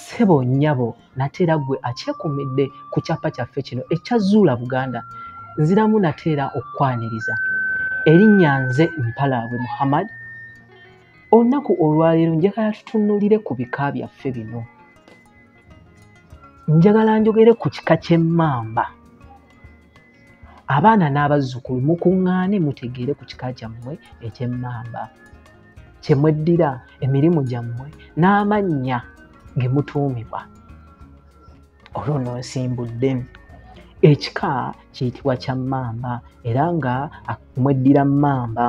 sebo nyabo nate era gwe akyekumidde ku kyapa kyaffe kino ekya zuula buganda nziramu nate era okukwaniriza erinnya nze mpalaabwe muhammad olunaku olwaleero njagala tutunulire ku bika byaffe bino njagala njogere ku kika ky'emmamba abaana n'abazzukulu mukuŋŋaane mutegeere ku kika kyammwe eky'emmamba kye mweddira emirimu gyammwe n'amannya ge mutuumibwa olwo no nsimbudde ekika kiyitibwa kya mmamba era nga mweddira mmamba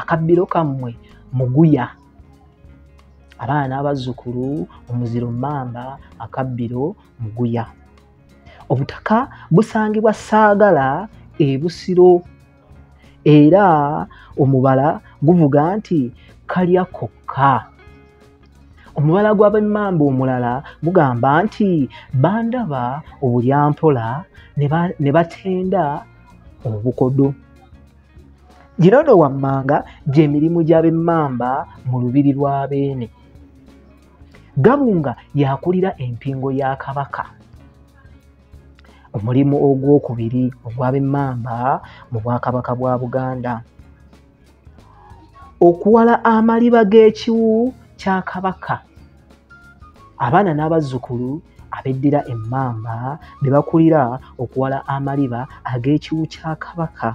akabbiro kammwe muguya abaana n'abazzukulu omuziro mmamba akabbiro muguya obutaka busangibwa saagala ebusiro era omubala guvuga nti kalya kokka omubala gw'abemmamba omulala gugamba nti bandaba obulyampola ne batenda obukodo gino no wammanga gy'emirimu gy'abemmamba mu lubiri lwa beene gabunga yakulira empingo ya kabaka omulimu ogwokubiri ogwabemmamba mu bwakabaka bwa buganda okuwala amaliba g'ekiwu kya kabaka abaana n'abazzukulu abeddira emmamba be bakulira okuwala amaliba ag'ekiwu kya kabaka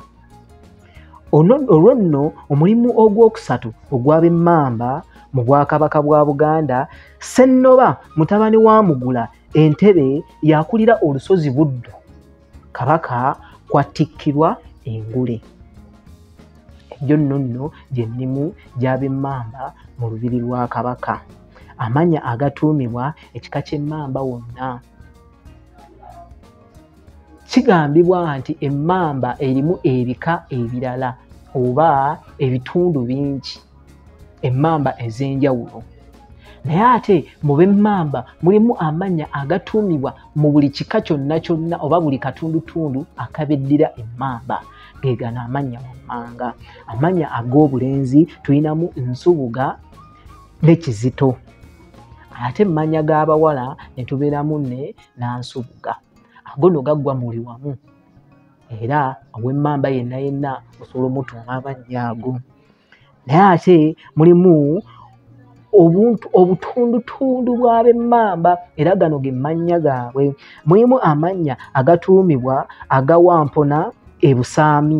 olwo nno omulimu ogwokusatu ogw'abemmamba mu bwakabaka bwa buganda sennoba mutabani wa mugula entebe yakulira olusozi buddu kabaka kwatikkirwa engule egyo nno nno gyemirimu gy'abemmamba mu lubiri lwa kabaka amanya agatuumibwa ekika ky'emmamba wonna kigambibwa nti emmamba erimu ebika ebirala oba ebitundu bingi emmamba ez'enjawulo naye ate mu b'emmamba mulimu amannya agatuumibwa mu buli kika kyonna kyonna oba buli katundutundu akabeddira emmamba ge gano amannya wammanga amannya ag'obulenzi tulinamu nsubuga ne kizito ate emmanya g'abawala ne tubeeramu ne n'ansubuga agono gaggwa muli wamu era ow'emmamba yenna yenna osobola omutuuma amannya ago naye ate mulimu obuntu obutundutundu bw'abemmamba era gano ge mannya gaabwe mulimu amannya agatuumibwa agawampona ebusaami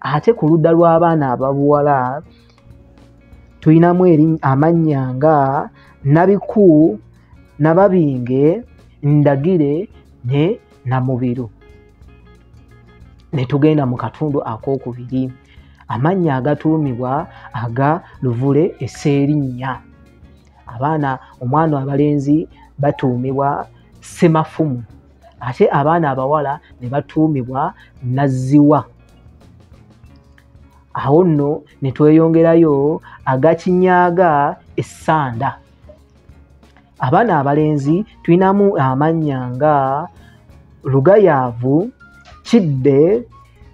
ate ku ludda lw'abaana ababuwala tulinamu amannya nga nabiku nababinge ndagire ne namubiru ne tugenda mu katundu ak'okubiri amannya agatuumibwa aga luvule eseerinnya abaana omwana abalenzi batuumibwa semafumu ate abaana abawala ne batuumibwa nazziwa awo nno ne tweyongerayo agakinyaaga essanda abaana abalenzi tulinamu amannya nga lugayaavu kidde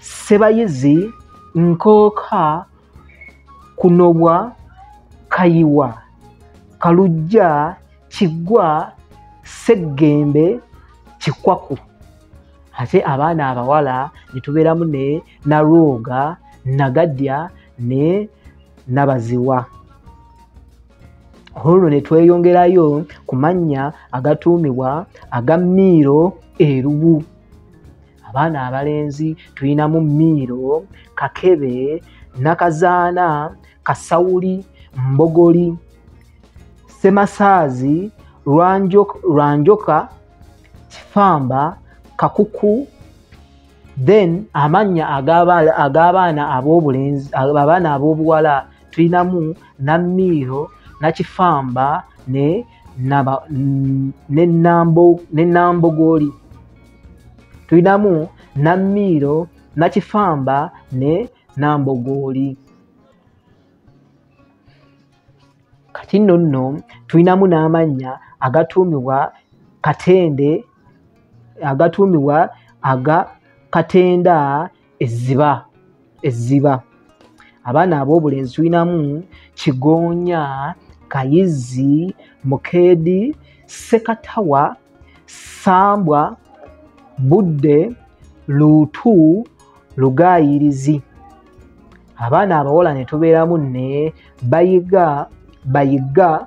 sebayizi nkooka kunobwa kayiwa kalujja kiggwa seggembe kikwaku ate abaana abawala netubeeramu ne nalwoga nagadya ne nabaziwa olwo netweyongerayo ku mannya agatuumibwa aga miiro erubu abaana abalenzi tulinamu miiro kakebe nakazaana kasawuli mbogoli semasaazi lwanjoka kifamba kakuku then amannya ag'abaana ab'obulenzi abaana ab'obuwala tulinamu namiiro nakifamba ne nambogooli tulinamu nammiiro nakifamba ne nambogooli kati nno nno tulinamu n'amannya agatuumibwa katende agatuumibwa aga katenda ezziba ezziba abaana ab'obulenzi tulinamu kigoonya kayizzi mukeedi sekatawa sambwa budde luutu lugaayirizi abaana abawala ne tubeeramu ne bayiga bayiga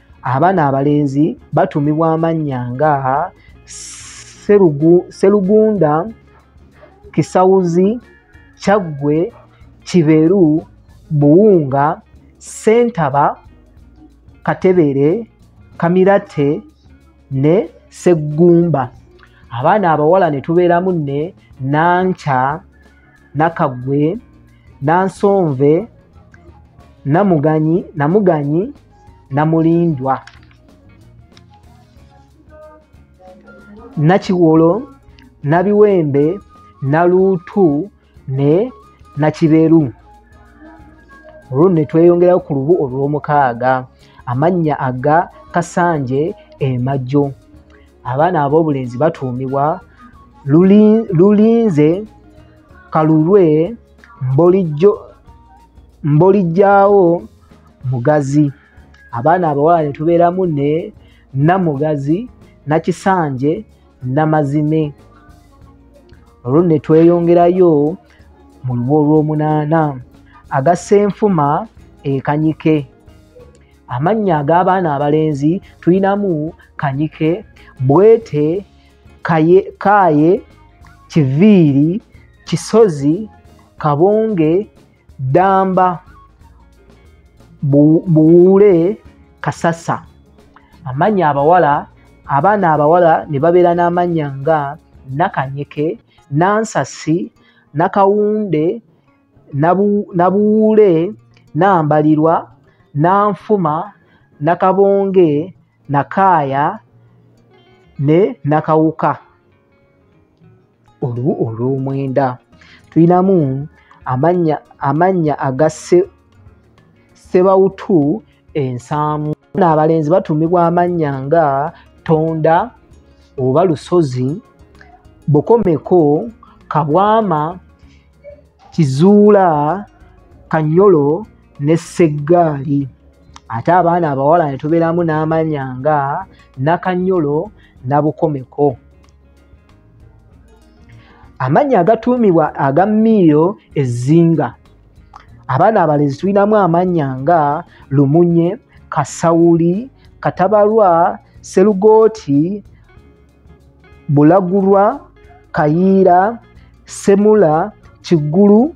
abaana abalenzi batumibwa amannya nga serugunda kisawuzi kyaggwe kiberu buwunga sentaba katebere kamirate ne seggumba abaana abawala ne tubeeramu ne nankya nakagwe nansonve namuganyi namuganyi namulindwa nakiwolo nabiwembe naluutu ne nakiberu olwo netweyongerayo ku lubu olwomukaaga amannya aga kasanje emajjo abaana ab'obulenzi batuumibwa lulinze kalulwe mbolijjawo mugazi abaana abawala netubeeramu ne namugazi nakisanje namazime olwo netweyongerayo mu luba olwomunaana agasenfuma ekanyike amannya ag'abaana abalenzi tulinamu kanyike bwete kaye, kaye kiviiri kisozi kabonge ddamba buwuule kasasa amannya abawala abaana abawala ne babeera n'amannya nga nakanyeke nansasi nakawunde nabuwuule nambalirwa nanfuma nakabonge nakaaya ne nakawuka olubu olw'omwenda tulinamu amannya amannya aga sebawutu ensaamu naabalenzi batuumibwa amannya nga tonda oba lusozi bukomeko kabwama kizuula kanyolo ne seggaali ate abaana abawala ne tubeeramu n'amannya nga nakanyolo nabukomeko amannya agatuumibwa aga miiro ezzinga abaana abalezi tulinamu amannya nga lumunye kasawuli katabalwa serugooti bulagulwa kayiira semula kiggulu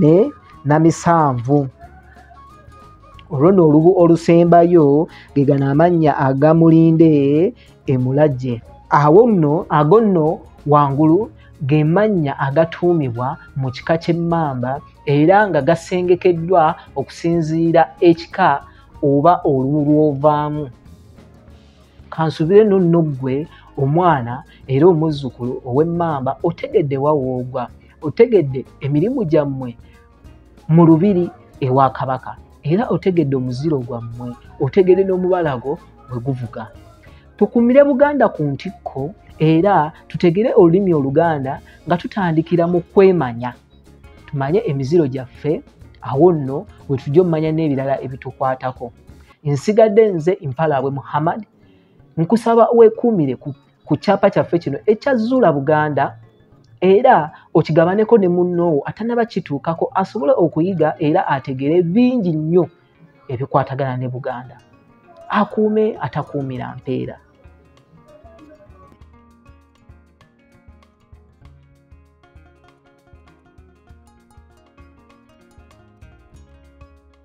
ne namisanvu olwo no olubu olusembayo ge gano amannya agamulinde emulagye awo nno ago nno wangulu ge mannya agatuumibwa mu kika ky'emmamba era nga gasengekeddwa okusinziira ekika oba olubu lw'ovaamu kansubire no nno ggwe omwana era omuzzukulu ow'emmamba otegedde wawoogwa otegedde emirimu gyammwe mu lubiri ewa kabaka era otegedde omuziro gwammwe otegedde n'omubala gwo bwe guvuga tukumire buganda ku ntikko era tutegere olulimi oluganda nga tutandikira mu kwemanya tumanye emiziro gyaffe awo nno wetujja omumanya n'ebirala ebitukwatako nsigadde nze mpalaabwe muhammad nkusaba wekuumire ku, ku kyapa kyaffe kino ekya zuula buganda era okigabaneko ne munnoowo atanaba kituukako asobole okuyiga era ategere bingi nnyo ebikwatagana ne buganda akuume atakuumira mpeera